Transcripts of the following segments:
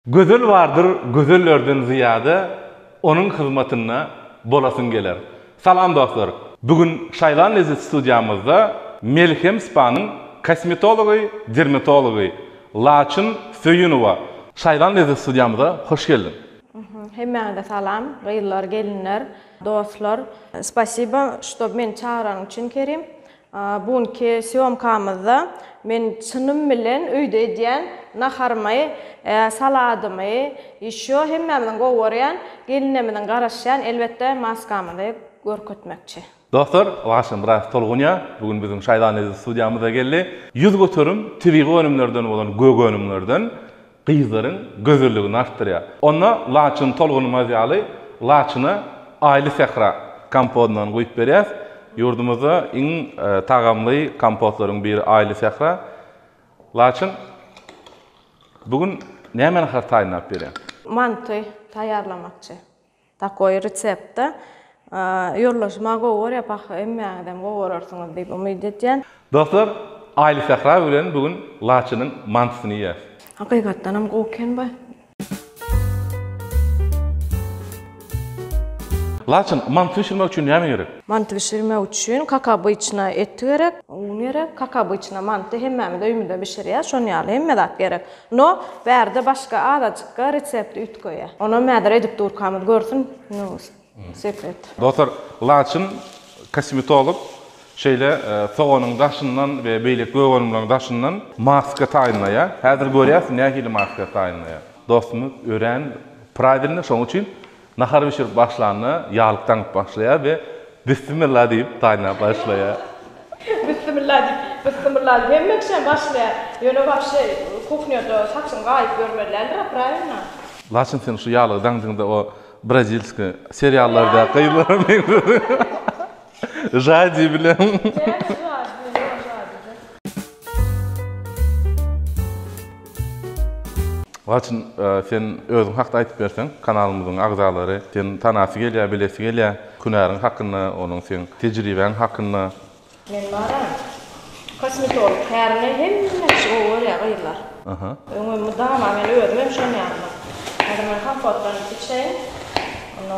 Gözel bardyr gözellerden zyýada onuň hyzmatynda bolasyň geler. Salam dostlar! Bu gün Şaýlan Lezzet studiýamyzda Melhem Spa-nyň kosmetology, dermatology Laçyn Söýünowa. Şaýlan Lezzet studiýamyza hoş geldiň! Hemmäňize salam, gyzlar, gelinler, dostlar! Spasiba, ştob meni çagyranyň üçin Kerim. Bu günki sýomkamyzda men çynym bilen öýde edýän naharymy, saladymy, ýeşo hemmämizin gowy görýän gelinimiziň garaşýan elbetde maskamyzy görkezmekçi. Dostlar, Waşa Myraýew tolgunýar. Bu gün biziň Şaýzanlady studiýamyza geldi. Ýüz göterim tebigy önümlerden bolan gök önümlerden Gyzlaryň gözelligini artdyrýar. Onda laçyn tolgunmaz ýaly laçyna Aýly sähra kompodyndan guýup berýäs. Ýurdumyzda iň tagamly kompotlaryň biri Aýly sähra. Laçyn, bu gün näme nahar taýynlap berýäň? Manty taýýarlamakçy. Takoý resepte ýorlaşmagy gowy görýär, pahyr emmäňizem gowy görersiňiz diýip umyt edýän. Dostlar Aýly Sähra bilen bu gün Laçynyň mantysyny iýýäs. Hakykatdanam gowy eken bu. Laçyn, manty bişirmek üçin näme gerek? Manty bişirmek üçin kakabyçna et gerek, un gerek, kakabyçna manty hemmämiz öýümizde bişirýäs, şonuň ýaly hemme zat gerek. No bärde başga azajykka resepti üýtgeýä. Onam häzir edip durkamyz görsün no sekret. Dostlar laçyn kosmetolog şeýle soganyň daşyndan we beýleki gögönümleriň daşyndan maska taýynlaýa. Häzir görýäs nähili maska taýynlaýa. Dostumyz örän pravilny şoň üçin Nahar bişirip başlanda ýaglyk daňyp başlaýar we Bissimilla diýip gaýnap başlaýar. Bissimilla diýip, Bissimilla diýip hemme kişem başlaýar. Ýöne wapşe kuhnýada saçyň gaýyp ýörmeli däldir-a, prawilno? Laçyn sen şu ýaglygy daňdyňda o brazilskiý seriallardaky gyzlara meňzediň. Žadi bilen. Näme žadi? Ýok žadi-de. Laçyn sen özüň hakda aýdyp berseň, kanalymyzyň agzalary seni tanasy gelýär, bilesi gelýär. Hünäriň hakynda, onuň seň tejribäň hakynda. Men baram. Kosmetolog kärine hemme kişi gowy görýär gyzlar. Aha. Öňem mydama men özüm hem şonýandyr. Häzir men kompotdan içeýin. Onda.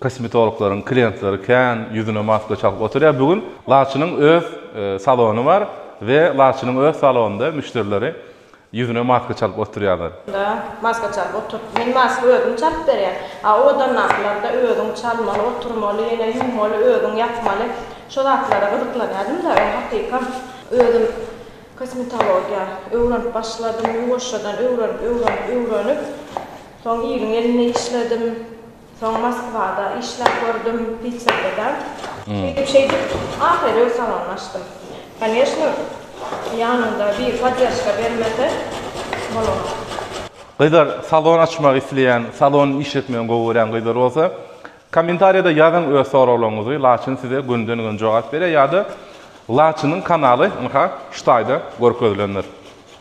Kosmetologlaryň klientleri kän ýüzüne maska çalyp oturýar. Bu gün Laçynyň öz salony bar we Laçynyň öz salonynda müşderileri ýüzüne maska çalyp oturýarlar. Da, maska çalyp oturyp, men maska özüm çalyp berýän. A o adamlaryndakylar-da özüň çalmaly, oturmaly, ýene ýuwmaly, özüň ýapmaly. Şo zatlara gyzyklanýardym-da, öň hakykam özüm kosmetologiýa öwrenip başladym, ýuwaşjadan öwrenip, öwrenip, öwrenip, soň iliň elinde işledim. Soň Moskwada işläp gördüm, Piterde-de. Şeýdip-şeýdip, ahyry öz salarymy açdym. Koneşno, ýanyňda biri poddержка bermese, bolanok. Gyzlar, salon açmak isleýän, salon işletmegini gowy görýän gyzlar bolsa, kommentariýada ýazyň öz soraglaryňyzy, Laçyn size günden-güne jogap berýär ýa-da Laçynyň kanaly, ynha, şu taýda görkezilendir.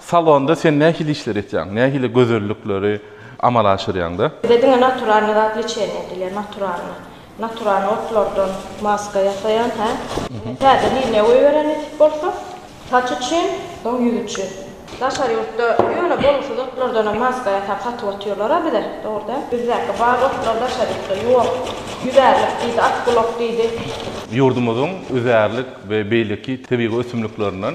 Salonda sen nähili işleri etýäň? Nähili gözellikleri amala aşyrýaňda? Bize diňe naturalnyý zat leçeniýa edilýär, naturalnyý. Naturalnyý otlardan maska ýasaýan, hä. Ine täze liniýa goýberýän nesip bolsa. Saç üçin, soň ýüz üçin. Daşary ýurtda ýöne bolgusyz otlardanam maska ýasap satyp otyrlar-a bize, dogry däl. Bizdäki bar otlar daşary ýurtda ýok. Ýüzärlik diýdi, atgulak diýdi. Ýurdumyzyň üzärlik we beýleki tebigy ösümliklerinden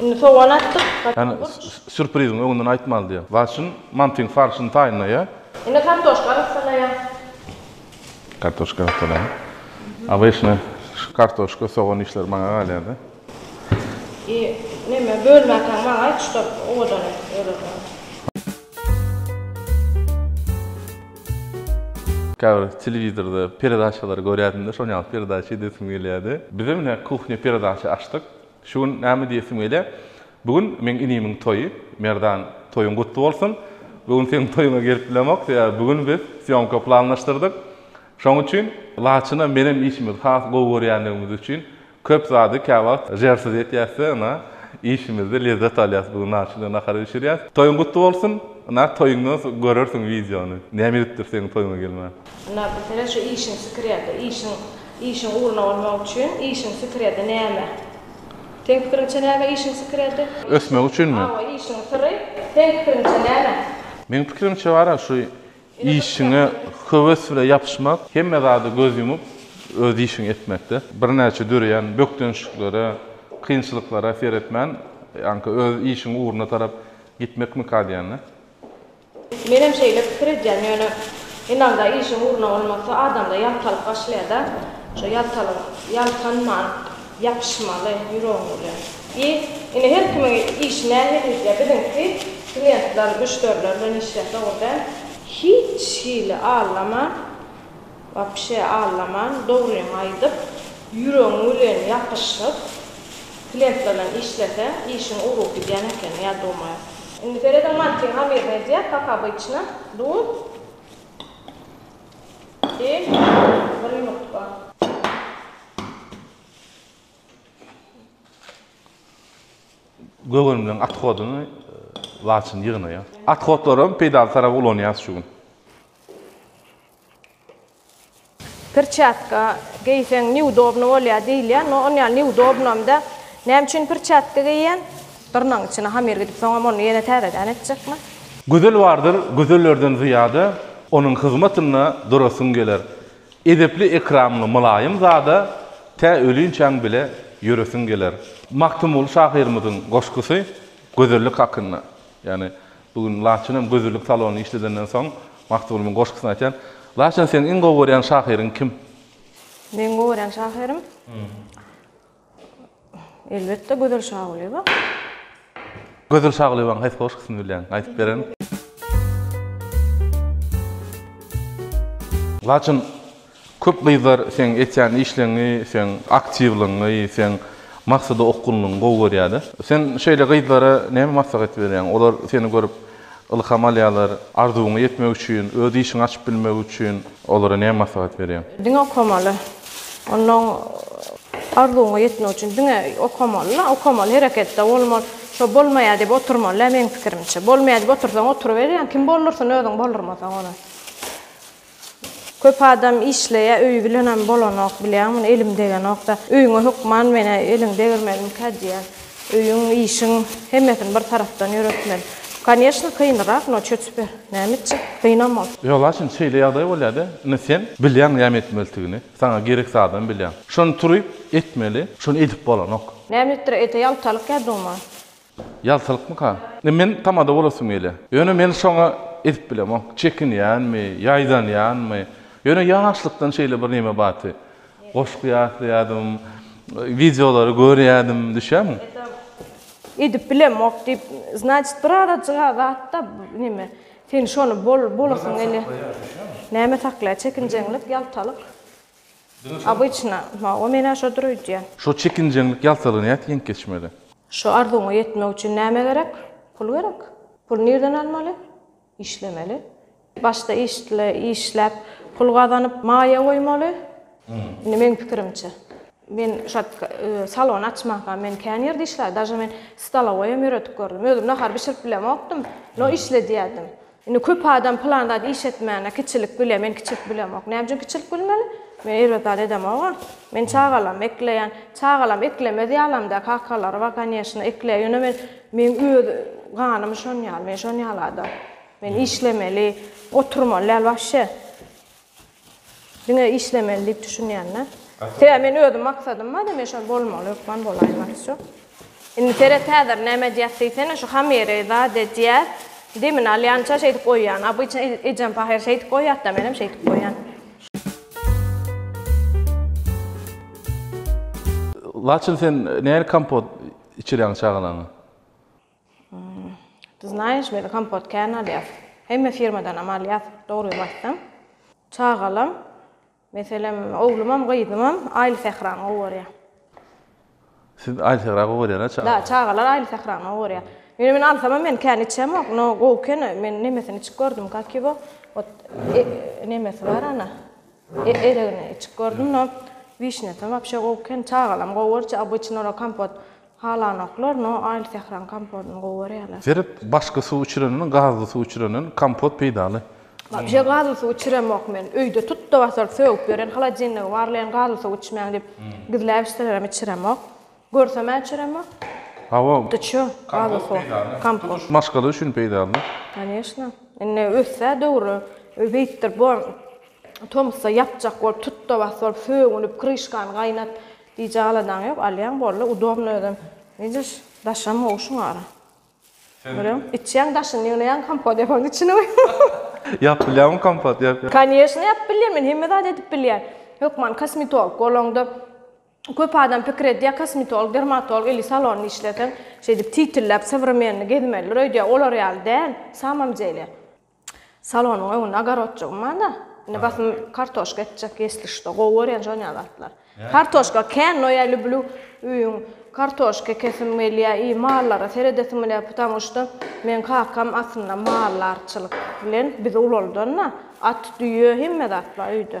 Indi sogan atdyk. Ýa sürpriziň öňünden aýtmaly diýýän. Waçyn mantyň farşyny taýynlaýar. Indi kartoşka gyssalaýar. Kartoşka gyssalaýar. Abeşne şu kartoşka, sogan işleri maňa galýar-da. I neme bölmäkäň maňa aýt şu top owadan et ýörelgäň. Käbir telewizorda peredaçalary görýärdim-de, şonuň ýaly peredaça edesim gelýärdi. Bizem ine kuhnya peredaça açdyk. Şu gün näme diýesiň welä? Bu gün meň inimiň toýy. Merdan, toýuň gutly bolsun. Bu gün seniň toýuňa gelip bilemok, sebäbi bu gün biz sýomka planlaşdyrdyk. Şoň üçin Laçyna menem işimizi has gowy görýänligimiz üçin köp zady käwagt žersiz etýäs-de, ynha, işimizde lezzet alýas. Bu gün Laçyn bilen nahar bişirýäs. Toýuň gutly bolsun. Ynha, toýuňdan soň görersiň wideony. Näme edipdir seniň toýuňa gelmän. Ynha, bilsene, şu işiň sikir ýa-da işiň, işiň ugruna bolmak üçin işiň sikir ýa-da näme? Seň pikiriňçe näme işiň sikir ýa-da? Ösmek üçinmi? Hawa, işiň syry seň pikiriňçe näme? Meň pikirimçe bar-a, şu işiňe höwes bile ýapyşmak, hemme zada göz ýumup, öz işiňi etmekde. Birnäçe döreýän bökdençliklere, kynçylyklara seretmän, ýaňky öz işiň ugruna tarap gitmekmika diýen-de. Menem şeýle pikir edýän ýöne ynanda işiň ugruna bolmasa adamda ýaltalyk başlaýada şo ýaltalygyň ýaltanman ýapyşmaly ýüregiň bilen i indi her kimiň işi nähilija biziňki kliýentler müşderiler bilen işleýäs dogry däl. Hiç hili aglama. Wapşe aglaman dogryňy aýdyp ýüregiň bilen ýapyşyp klentlerden işleseň işiň ugrup gidýän ekeni ýa dumay. Indi serediň mantygy hamyryny edýär kak obyçna duz i bir ýumurtga. Gögönümiň athodyny laçyn ýygnaýas. Athodlaram peýdaly tarap ulanýas şu gün. Pirçatka geýseň neudobno bolýar diýilýär, no on ýaly neudobnomda. Näme üçin pirçatka geýýän? Dyrnagyň içine hamir gidip soňam ony ýene täzeden etjekmi? Gözel bardyr gözellerden zyýada, Onuň hyzmatynda durasyň geler. Edepli-ekramly mylaýym zada, Tä ölünçäň bile ýöresiň geler. Magtymguly şahyrymyzyň goşgusy gözellik hakynda. Ýagny Bu gün Laçyn hem gözellik salonyny işledenden soň Magtymgulynyň goşgusyny aýtýar. Laçyn seň iň gowy görýän şahyryň kim? Meň gowy görýän şahyrym? Elbetde Gözel Şagulyýewa. Gözel Şagulyýewanyň haýsy goşgusyny bilýäň? Aýdyp beren. Laçyn Köp gyzlar seň etýän işleňňi, seň aktiwlygyňy, seň maksada okgunlygyňy gowy görýärler. Sen şeýle gyzlara näme maslahat berýäň? Olar seni görüp ylham alýarlar. Arzuwyňa ýetmek üçin, öz işiňi açyp bilmek üçin olara näme maslahat berýäň? Diňe okamaly. Onnoň arzuwyňa ýetmek üçin diňe okamaly-la, okamaly, hereketde bolmaly. Şo bolmaýar diýip oturmaly-la meň pikirimçe. Bolmaýar diýip otursaň oturyberýäň, kim boldursyn özüň boldurmasaň ony. Köp adam işleýä öýi bilenem bolanok bilýäň muny elim degenokda öýüňe hökman menä eliň degirmeliňkä diýýän öýüň işiň hemmesini bir tarapdan ýöretmeli koneşna kynrak no çö tüper näme etjek kynam ol. Ýogsa şimdi şeýle ýagdaý bolýada indi sen bilýäň näme etmelitigini saňa gerek zadam bilýäň şony turyp etmeli şony edip bolanok. Näme etdir ete ýaltalyk ýa duma Ýaltalykmyka? Indi men tamada bolasym gelýär. Ýöne men şoňa edip bilemok. Çekinýänmi, ýaýdanýanmy? Ýöne ýaşlykdan şeýle birneme bady. Goşgy ýatlaýardym, wideolary görýärdim, düşýärmiň? Edip bilemok diýip, znaçit bir azajyga zatda neme, sen şony bol, bolasyň gelýär. Näme saklaýar? Çekinjeňlik, ýaltalyk. Obyçna, mawy men-ä şo dur öýdýän. Şo çekinjeňlik ýaltalygy nädip ýeňip geçmeli? Şo arzuwyňa ýetmek üçin näme gerek? Pul gerek. Puly nirden almaly? Işlemeli. Başda işle, işläp, pul gazanyp, maýa goýmaly. Indi meň pikirimçe. Men şo salon açmanka men kän ýerde işläp, daže men stolowoýam ýöredip gördüm. Özüm nahar bişirip bilemokdym, no işledýärdim. Indi köp adam pylan zady iş etmände kiçilik bilýär, men kiçilik bilýämok. Näme üçin kiçilik bilmeli? Men erbet zat edemog-a. Men çagalarym ekleýän. Çagalarym eklemez ýalam-da, kakalary bar, kanyýeşna, ekleýär. Ýöne men, meň öz ganym şon ýaly, men şon ýaly adam. Men işlemeli, oturmaly däl wapşe. Diňe işlemeli diýip düşünýände. Sebäbi men özüm maksadym bardy, men şol bolmaly hökman bolaýyn başda. Indi seret häzir näme edýäs diýsene, şu hamyry zat edýäs, demini alýança şeýdip goýýan. Obyçny ejem pahyr şeýdip goýýarda, menem şeýdip goýýan. Laçyn sen nähili kompot içirýäň çagalaňa? Ты знаешь, biz kompot kän alýas. Hemme firmadanam alýas, dogrymy aýtsam. Çagalam, meselem, oglumam, gyzymam Aýly sährany gowy görýär. Siz Aýly sährany gowy görýän-a çagalar? Da, çagalar Aýly sährany gowy görýär. Ýöne men alsamam men kän içemok, no gowy eken, men nemesini içip gördüm, kak ýogo, ot nemesi bar ana, eregini içip gördüm, no wişnýasy wapşe gowy eken, çagalam gowy görýär, obýçny olar kompot Halanoklar no aýl sähraň kompodyny gowy görýärler. Seret başga suw içirenini gazly suw içirenden kompot peýdaly. Wapşe gazly suw içiremok men öýde tutda basyr sögüp ýören holodilnigi barlaýan gazly suw içmäň diýip gizläp içselerem içiremok görsemä içiremok Hawa tutda içýo gazly suw kompot maşgala üçin peýdaly. Koneşna indi össä döwri beýtdir bor tomusda ýapjak bolup tutda bas bolup sögünip kryşkany gaýnat Gije aladaň ýok alýaň boldy udobno özem widiş daşam gowşuň ara görem içýäň daşyny ýygnaýaň kompot ýapaň içini goýaň. Ýap bilýäňmi kompot ýap ýap. Kanyesno ýap bilýän men hemme zat edip bilýän hökman kosmetolog bolaňda köp adam pikir edýär kosmetolog dermatolog ili salonda işleseň şeýdip titilläp sowremenni gezmelidir öýdýär olar ýaly däl samam dele. Salonyň öňünde ogorodjygym bar-da, indi basym kartoşka ekjek, ýesli što. Gowy görýän şonýa zatlar. Kartoşka kän, no ýa lüblü öýüň kartoşka ekesim gelýä i mallara seredesim gelýä, putamu što meň kakam aslynda mallarçylyk bilen bizi ulaldan-da, at, düýe, hemme zat bar öýde.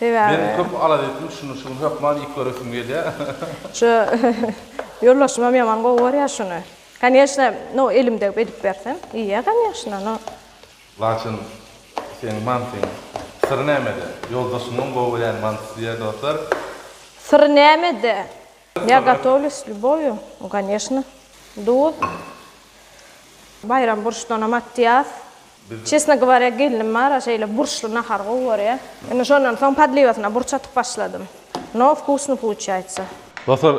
Sebäbi. Men köp alada etdim şuny şuny hökman iýip göresim gelýär. Şu ýoldaşymam ýaman gowy görýär şuny. Kanyýeşna no elim degip edip bersem iýýär kanyýeşna no. Laçyn seň mantyň syry nämede? Ýoldaşymyň gowy görýän mantysy diýýär dostlar. Syry nämede? Ýa gatowyly s lýuboýu, no ganeşno, duz. Baýram burçdanam atýas. Çesno gowarýa gelnim bar-a şeýle burçly nahar gowy görýä. Indi şondan soň podliwasyna burç atyp başladym. No wkusno puçýaýtsa. Dostlar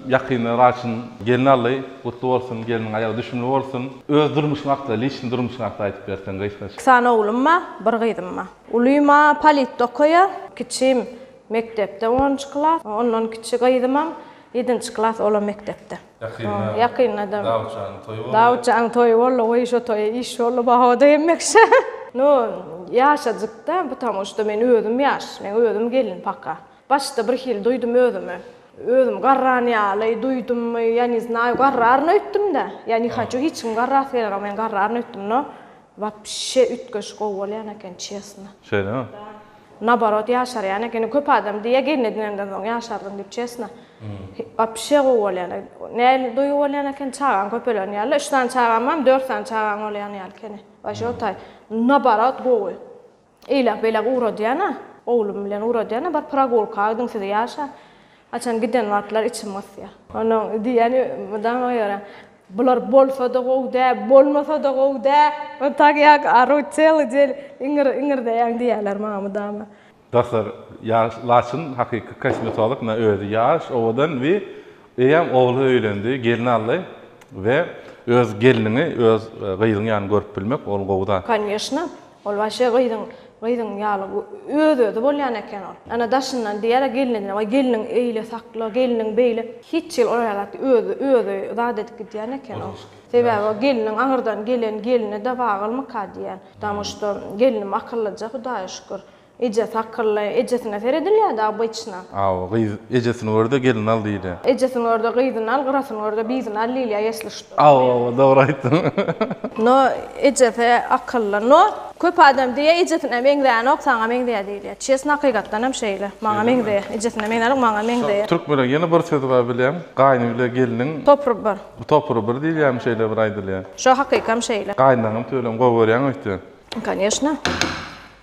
ýakynda Raçyň gelni aldy, gutly bolsun, gelniň aýagy düşümli bolsun. Öz durmuşyň hakda, liçny durmuşyň hakda aýdyp berseň gysgaça. Iki sany oglum bar, bir gyzym bar. Ulym-a politda okaýar, kiçim Mekdepde onunjy klas. Ondan kiçi gyzymam ýedinji klas, olam mekdepde. Ýakynda. Ýakynda-da. Dawutjanyň toýy boldy. Dawutjanyň toýy boldy. Goý, şo toýa iş boldy baho-da hemmeşe. No, ýaşajyk-da, ptamuşda men özüm ýaş. Men özüm gelin paka. Başda birhili duýdum özümi. Özüm garran ýaly duýdummy, ýa ne znaýu, garraryn öýtdüm-dä. Ýa ne haçu, hiç kim garrasy gelenok, men garraryn öýtdüm. No, wapşe üýtgeşik gowy bolýan eken, çesno. Şeýlemi? Naborot ýaşarýan ekeni köp adam diýýä gelin edinenden soň ýaşardym diýip çesna. Wapşe gowy bolýan. Nähili duýgy bolýan eken çagaň köpelen ýaly. Üç sany çagam bar, dört sany çagaň bolýan ýaly ekeni. Waşe otaý. Naborot gowy. Eýläk beýläk ugradýana, oglum bilen ugradýana bir pragulka gidiň sizi ýaşa. Haçan giden wagtlary içim gysýa. Onuň diýýäni mydama görä. Bular bolsada gowy dä bolmasada gowy dä. Ol tak ýak ary çyly jel iňir iňirdeýäň diýýäler maňa mydama. Dostlar ýaş laçyn hakyky kosmetolog na özi ýaş owadan we eýýäm ogly öýlendi gelin aldy we öz gelniňi öz gyzyň ýaly görüp bilmek ol gowy zat. Konýeşna Ol waşe gyzyň gyzyň ýaly öz-özi bolýan eken ol. Ana daşyndan diýýär-ä gelnine, waý gelniň eýle sakla, gelniň beýle. Hiç hili olara zat öz-özi zat edip gidýän eken ol. Sebäbi o gelniň aňyrdan gelen gelni-de wagylmyka diýýän. Damuş-da gelnim akyllyja Hudaýa şükür. Ejesi akylly. Ejesine seredilýärdi obyçna. Hawa, gyz ejesini gör-de, gelin al diýilýär. Ejesini gör-de, gyzyny al, gyrasyny gör-de, bizini al diýilýär, ýesli şut. Hawa, hawa, dogry aýtdyň. No, ejesi akylly. No, köp adam diýýär, ejesine meňzänok, saňa meňzeýär diýilýär. Çesn, hakykatdan hem şeýle. Maňa meňzeýär. Ejesine meňzänok, maňa meňzeýär. Türkmeniň ýene bir sözi bar bilýäň, gaýny bile gelniň. Topry bir. Topry bir diýilýärmi, şeýle bir aýdylýar. Şo, hakykam şeýle. Gaýynlaňam tüweleme gowy görýäňmi öýtýän? Kanyýeşna.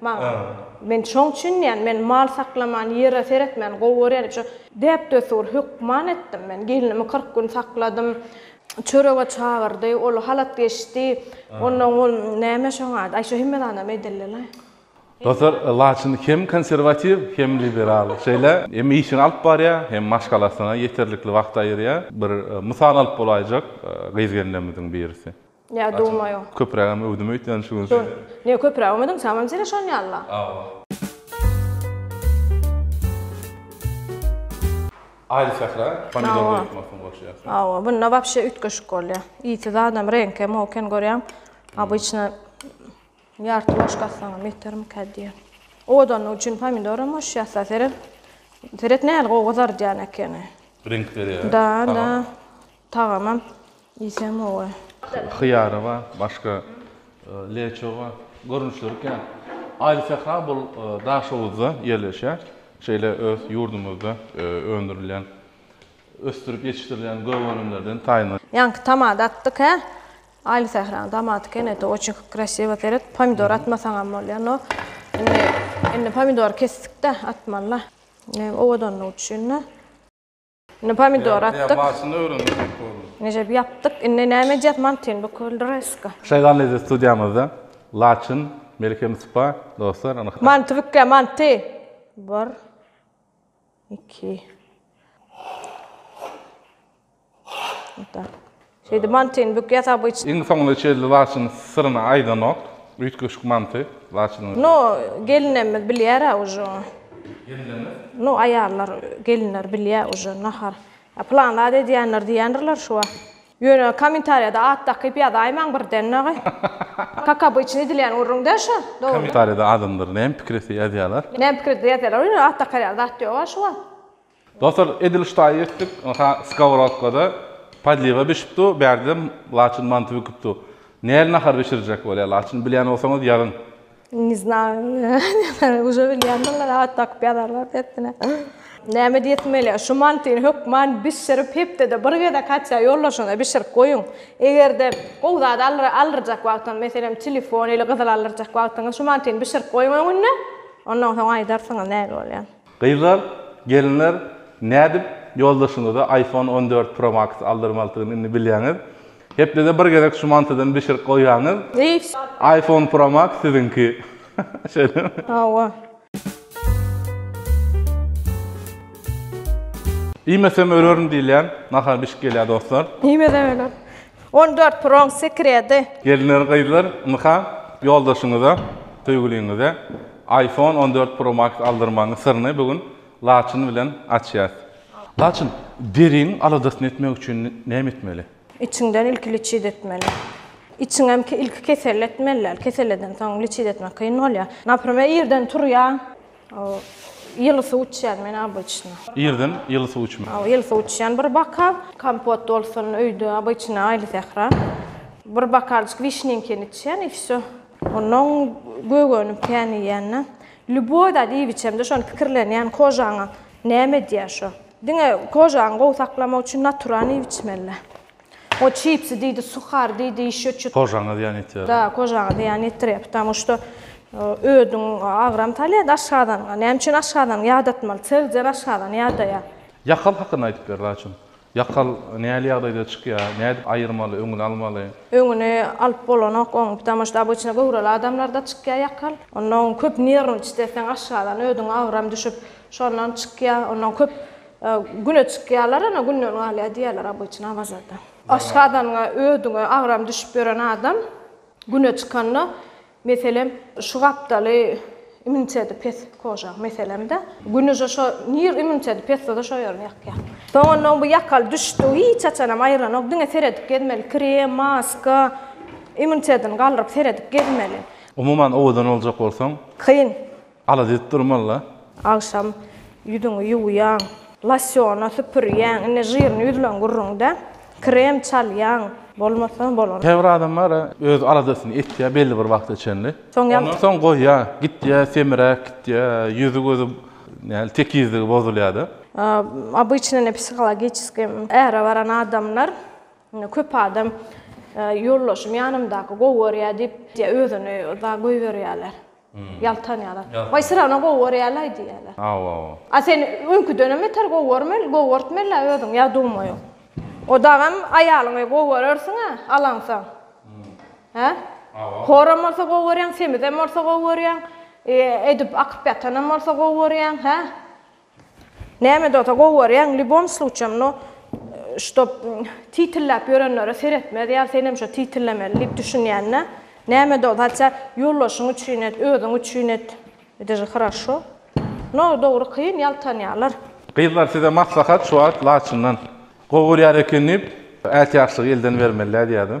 Maňa. Men şoň üçin diýýän, men mal saklaman, ýere seretmän gowy görýän üçin, däp-desur hökman etdim men. Gelnimi kyrk gün sakladym. Çörege çagyrdy, ol halat geçdi. Onnoň ol näme şoň ady? Aý, şo hemme zadam edildi-le. Dostlar, Laçyn hem konserwatiw, hem liberal. Şeýle, hem işini alyp barýar, hem maşgalasyna ýeterlikli wagt aýyrýar. Bir mysal alyp bolaýjak gyz gelnemiziň birisi. Ýa duma ýok. Köpürägem öwdüm öýtýän şu gün seni. Ne köpüräk öwmediň samam seni şon ýalla. Awa. Aýly sähra pomidor goýup makyň goşýar. Awa bunda wapşe üýtgeşik bolýa. Ýiti zadam reňke moken görýäň. Obyçna ýarty ложka atsaňam ýetermikä diýýän. Owadanlyk üçin pomidoram goşýas da seret. Seret nähili gowy gyzardýan ekeni. Reňk berýär. Da da. Tagamam iýsem gowy. Hyýary bar, başga leço bar. Görnüşleri kän. Aýly sähra bul Daşoguzda ýerleşýär. Şeýle öz ýurdumyzda öndürilýän, ösdürip ýetişdirilýän gök önümlerden taýyndyr. Ýaňky tamada atdyk hä. Aýly sähranyň tamaty kenedi oçin krasiwa seret pomidor atmasaňam bolýar no indi indi pomidory kesdikdä atmalyda owadanlygy üçinda. Indi pomidor atdyk. Başyny öwrendirmek boldy. Nejep ýapdyk. Indi näme edýäs? Mantyn büküldireska. Şagallyda studiýamyzda Laçyn, Melike Mustafa, dostlar, anykda. Manty bükýä, manty. 1 2 Ota. Şeýdip mantyny bük ýasap yç. Iň soňuna çenli Laçyn syryny aýdanok. Üýtgeşik manty Laçynyň. No gelinemiz bilýär-ä uje. Gelinemiz? No aýallar, gelinler bilýär uje nahar. Ýa plan zat edýänler diýendirler şu wagt. Ýöne kommentariýada at dakyp ýazaýmaň birden dagy. Kaka bu içini edilýän gürrüň-dä şu, dogrymy? Kommentariýada adamlar näme pikir etse ýazýarlar. Näme pikir etse ýazýarlar, ýöne at dakarýan zat ýog-a şu wagt. Dostlar edil ştaý etdik ynha skowrodkada podliwa bişip dur bärdem laçyn manty büküp dur näl nahar bişirjek bolýa laçyn bilýän bolsaňyz ýazyň. Ne znayy uje bilýändirler at dakyp ýazarlar dessine. Näme diýesim gelýär şu mantyny hökman bişirip hepdede bir gezek hatça ýoldaşyňyza bişirip goýuň egerde gowy zat aldyrjak wagtyňyz meselem telefon ili gyzyl aldyrjak wagtyňyz şu mantyny bişirip goýuň öňünde ondan soň aýdarsyňyz näl bolýan. Gyzlar, gelinler nädip ýoldaşyňyza iPhone on dört Pro Max aldyrmalydygyny indi bilýäňiz. Hepdede bir gezek şu mantydan bişirip goýýaňyz. iPhone Pro Max siziňki. Şeýlemi? Hawa. Iýmesem ölerin diýilýän nahar bişip gelýär dostlar. Iýmesem öler. On dört proň sekredi. Gelinler gyzlar ynha ýoldaşyňyza söýgüliňize iPhone on dört pro max aldyrmagyň syryny bu gün Laçyn bilen açýas. Laçyn, deriň aladasyny etmek üçin näme etmeli? Içiňden ilki liçit etmeli. Içiňem ilki keselli etmeli däl. Kesel eden soň liçit etmek kyn bolýar. Naprimer irden turýaň. O ýyly suw içýän men obyçna. Irden ýyly suw içme. O ýyly suw içýän bir bokal. Kompot bolsun öýde obyçna aýly sähra. Bir bokaljyk wişnenkini içýän i wsýo. Onnoň gögenip kän iýende. Lýuboý zat iýip içemde şony pikirlenýän kožaňa näme edýär şo. Diňe kožaňy gowy saklamak üçin naturan iýip içmeli. O çipsi diýdi, suhar diýdi, ýeşe çüt. Kožaňa zyýan ýetirýär. Da, kožaňa zyýan ýetirýär. Ptamou şto ödüň agram salýar aşgazanyňa. Näme üçin aşgazanyňy ýadatmaly? Seljer aşgazany ýadaýar. Ýakal hakynda aýdyp ber Laçyn. Ýakal näli ýagdaýda çykýar? Nädip aýyrmaly, öňüni almaly? Öňüni alyp bolanok oň. Ptamou şto obyçna göwreli adamlarda çykýar ýakal. Onda oň köp nerwni çitleseň aşgazan ödüň agram düşüp şondan çykýar. Ondan köp Güne çykýarlar, ana günden galýar diýýärler obyçny Awazadan. Aşgazanyňa, ödüňe agram düşüp ýören adam güne çykanda, meselem, şu gapdaly immuniteti pes koža, meselem-de, gün uje şo nir immuniteti pes bolsa şo ýerini ýakýar. Soňundan bu ýakaly düşdi, hiç haçanam aýyranok, diňe seredip gezmeli, krem, maska, immunitetini galdyryp seredip gezmeli. Umuman owadan boljak bolsaň. Kyn. Ala diýip durmala. Agşam ýüzüňi ýuwýaň. Losýona süpürýäň. Indi žirni ýüzleň gürrüňde. Krem çalýaň. Bolmasa bolan. Käbir adam bar-a, öz aladasyny etýär belli bir wagta çenli. Soň ýa. Ondan soň goýýar. Gitýär, semiräp gitýär. Ýüzi-gözi näl, tekizligi bozulýar-da. Obyçny indi psihologiçeskiý äre baran adamlar, indi köp adam ýoldaşym ýanymdaky gowy görýär diýip, özüni uza goýberýärler. Ýaltanýalar. Waý syrana gowy görýälaý diýýäler. Hawa. A sen öňküdenem beter gowy görmeli, gowy görtmeli-ä özüň ýa dumaýyň. O dagam aýalyňy gowy görersiň-ä alaňsaň. Hä? Hawa. Horam bolsa gowy görýäň, semizem bolsa gowy görýäň, edip akyp ýatanam bolsa gowy görýäň, hä? Näme dota gowy görýäň lýubom sluçýam no ştob titilläp ýörenlere seretmez ýa senem şo titillemeli diýip düşünýänä näme do zatça ýoldaşyň üçin et özüň üçin et ýtže hraşo no dogry kyn ýaltanýalar. Gyzlar size maslahat şu wagt laçyndan. Gowy görýär eken diýip ätiýaçlygy elden bermelidä diýýädim.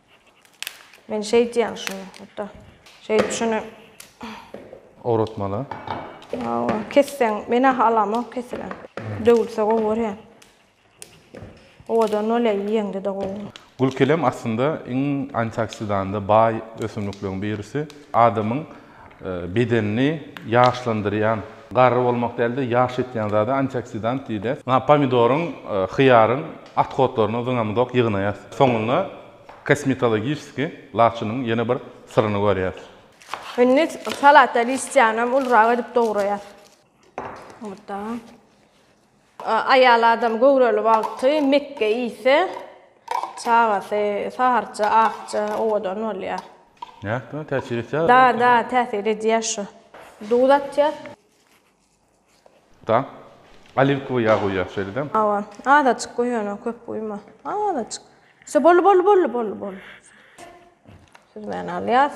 Men şeýdýän şuny, hatda şeýdip şuny. Owratmaly. Hawa, kesseň, men-ä halamok kesilen. Döwülse gowy görýän. Owadan bolýar, iýeňde-de gowy. Gülkelem aslynda iň antioksidanda baý ösümlikleriň birisi. Adamyň. Bedenini ýaşlandyrýan, garry bolmak däl-de, ýaş etýän zada antioksidant diýilýär. Ynha, pomidoryň, hyýaryň otkotlaryny zyňamyzok, ýygnaýas. Soňunda kosmetologiçeskiý laçynyň ýene bir syryny görýäs. Indi salata listýanam ulurak edip dograýas. Oda. Aýal adam göwreli wagty mekge iýse, çagasy saharça, akja, owadan bolýar. Nätdigiňe täsir etýär. Da, da, täsir edýär şu. Duz atýas. Da, oliwkowy ýag guýýas şeýle-de. Hawa, azajyk guý ony, köp guýma. Azajyk. Şo, boldy, boldy, boldy, boldy, boldy. Süzmäni alýas.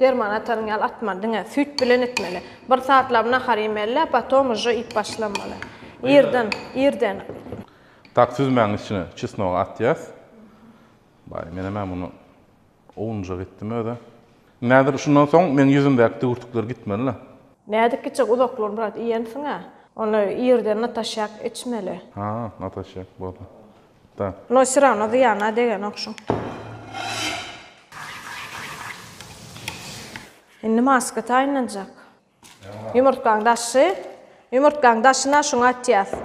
Derman ataryň ýaly atmaly diňe süýt bilen etmeli. Bir satlap nahar iýmeli potom uje iýip başlamaly. Irden, irden. Tak süzmäň içine çesnogy atýas. Baý menem ä muny owunjak etdim özi. Näzir şundan soň meň ýüzümdäki düwürtikler gitmelila. Näzik gitjek uzaklygyny biraz iýensiňä. Ony irden nataşýak içmeli. Ha nataşýak boldy. Da. Noý syrawna zyýana degenok şuň. Indi maska taýynlanjak. Ýumurtgaň daşy. Ýumurtgaň daşyna şuňy atýas.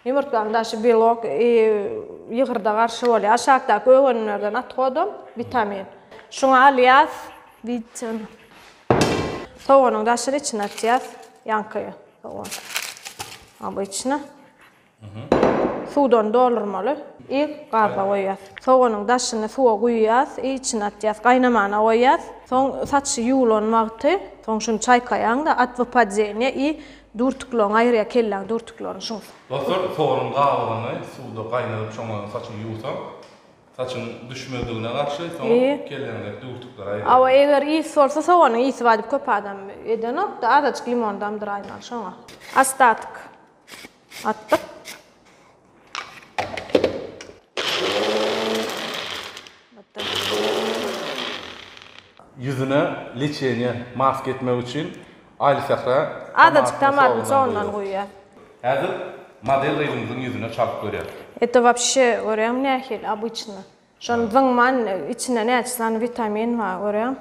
Ýumurtgaň daşy belok i ýygyrda garşy bolýar. Aşakdaky öwenlerden at godam witamin. Şuňy alýas. Wideo. Sowanyň daşyny içine atýas. Ýankaýa sowan. A bu içine. Suwdan doldurmaly i gazda goýýas. Soganyň daşyny suwa guýýas i içini atýas. Gaýnamana goýýas. Soň saç ýuwlan wagty, soň şuny çaýkaýaňda at wypadeniýe i durtuklygyny aýyrýar, kelläň durtuklygyny şuň. Dostlar, soganyň gabygyny suwda gaýnadyp şoňa saçy ýuwsaň, saçyň düşmezligine garşy, soň kelläňdäki durtuklary aýyrýar. Hawa, eger ysy bolsa soganyň ysy bar diýip köp adam edenokda, azajyk limon damdyraýmaly şoňa. Astatyk Atdyk. Ýüzüne leçeniýe, maska etmek üçin Aýlysähra Azajyk tomatyny soňundan guýýar. Häzir model gyzymyzyň ýüzüne çalyp görýäs. Eto wapşe görýäňmi nähili obyçny. Şony zyňman içinde näçe sany witamin bar görýäň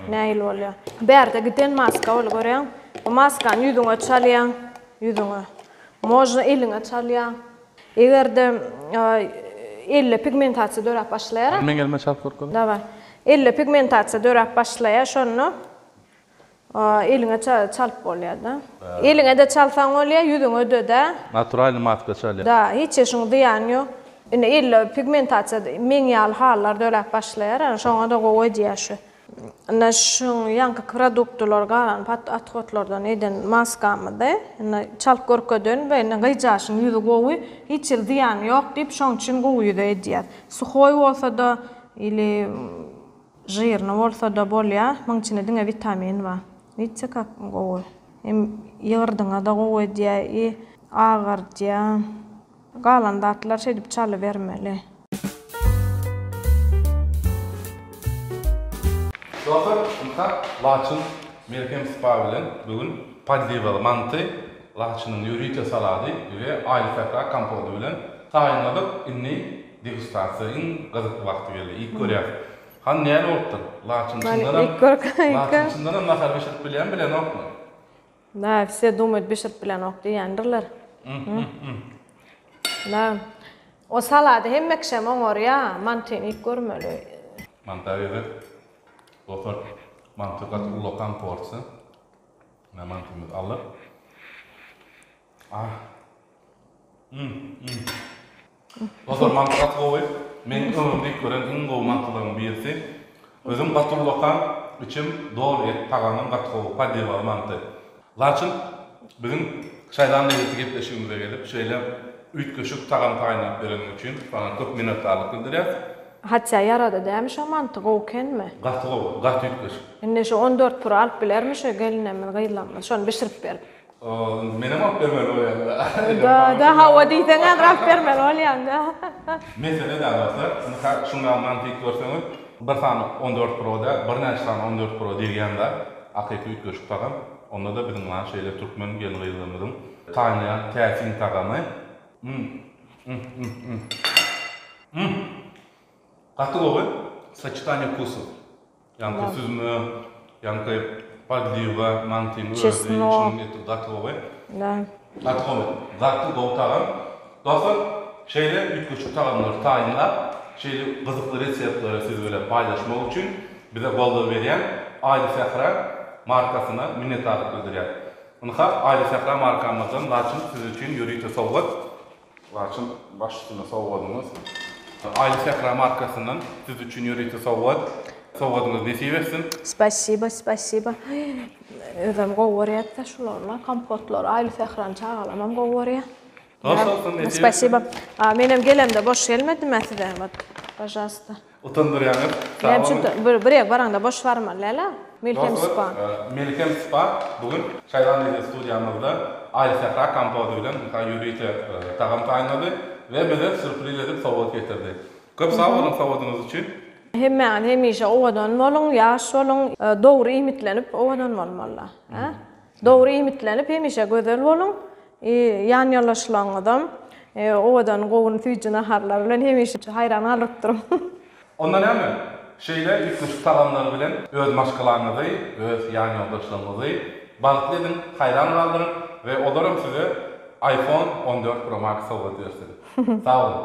nähili bolýar. Bärde giden maska bol görýäň. Bu maskany ýüzüňe çalýaň, ýüzüňe. Mojna eliňe çalýaň. Egerde elde pigmentasiýa döräp başlaýara. Elmeň elme çalyp görkezip. Daway. Elde pigmentasiýa döräp başlaýar şonda. Eliňe çalyp bolýada. Eliňede çalsaň bolýa, ýüzüňe dödä. Naturalny maska çalýa. Da, hiç işiň zyýany ýok. Indi elde pigmentasiýa meň ýaly halylar döläp başlaýar, ana şoňada gowy edýär şu. Indi şu ýaňky produktylar galan pat athodlardan eden maskamydy. Indi çalyp görkedeýin we indi gyzjagaşyň ýüzi gowy, hiç hili zyýany ýok diýip, şoň üçin gowy ýüze edýär. Suhoý bolsada ili. Žirny bolsada bolýa muň içinde diňe witamin ba. Widse kak gowy. Hem ýygyrdyňada gowy edýä i agardýa. Galan zatlar şeýdip çalybermeli. Dotor Mka Laçyn melhem spa bilen bu gün Paldiwaly manty, Laçynyň ýörite salady we Aýly sähra kompody bilen taýynladyk, indi Degustasiýa iň gyzykly wagty geldi. Iýip görýäs. Hany näme bolupdyr? Laçyn çyndanam Laçyn çyndanam nahar bişirip bilýän bilenokmy? Da, vse dumyt bişirip bilenok diýendirler. Da. O salady hemme kişem oňarýa. Mantyny iýip görmeli. Manta gezek. Dostlar, manty gaty ullakan porsiýa. Mine mantymyz aldyk. Ah. Mmm. Mmm. Dostlar mantysy gaty gowy. Meň ömrümde iýip gören iň gowy mantylaryň birisi. Özüm gaty ulakan, içim doly et, tagamam gaty gowy, padiwaly manty. Laçyn biziň şaýlan lezzeti gepleşigimize gelip şeýle üýtgeşik tagamy taýynlap bereniň üçin saňa köp minnetdarlyk bildirýäs. Hatja ýarady dämi şo manty gowy kenmi. Gaty gowy, gaty üýtgeşik. Indi şu on dört pury alyp bilermi şu gelinemiz gyzlamyz şony bişirip berip. Ol menem alyp bermeli bolýan. Dada hawa diýseň häzir alyp bermeli bolýaň da. Mesele däl dostlar. Mysal şunda mantyk görseňiz bir sany on dört proda birnäçe sany on dört pro degýän zat hakyky üýtgeşik tagam. Onda da biziň ýaly şeýle türkmen gelin gyzlarymyzyň taýynlaýan täsin tagamy. Mmm mmm mmm mmm mmm gaty gowy soçitaniýe wkusu. Ýaňky süzme, ýaňky podliwa mantynyň özi içiniň eti gaty gowy. Gaty gowy. Gaty gowy tagam. Dostlar, şeýle üýtgeşik tagamlary taýynlap, şeýle gyzykly reseptleri siz bilen paýlaşmak üçin bize goldaw berýän Aýly sähra markasyna minnetdarlyk bildirýäris. Ynha, Aýly sähra markamyzdan laçyn siz üçin ýörite sowgat. Laçyn baş üstüne sowgadyňyz. Aýly sähra markasyndan siz üçin ýörite sowgat. Sowgadyňyz nesip etsin. Spasiba spasiba özem gowy görýätda şularla kompotlary aýly sährany çagalamam gowy görýä. Hoş bolsun nesip etsin. Spasiba. Menem gelemde boş gelmedimä size ot. Pažalsta. Utandyrýaňyz. Sag boluň. Näme üçin bir ýere baraňda boş barmaly däl-ä? Melhem spa. Dostlar, Melhem spa bu gün Şaýla Media studiýamyzda Aý Sähra kompoty bilen muka ýörite tagam taýynlady we bize sýurpriz edip sowgat getirdi. Köp sag boluň sowgadyňyz üçin. Hemmäňiz hemişe owadan boluň, ýaş boluň, dogry iýmitlenip owadan bolmaly-da. Dogry iýmitlenip hemişe gözel boluň i ýan ýoldaşlaryňyzam owadan gowun süýji naharlar bilen hemişe haýran galyp durun. Onda näme? Şeýle üýtgeşik tagamlar bilen öz maşgalaňyzy, öz ýan ýoldaşlaryňyzy bagtly ediň, haýran galdyryň we olaram size iPhone on dört Pro Max sowgat bersin. Sag boluň.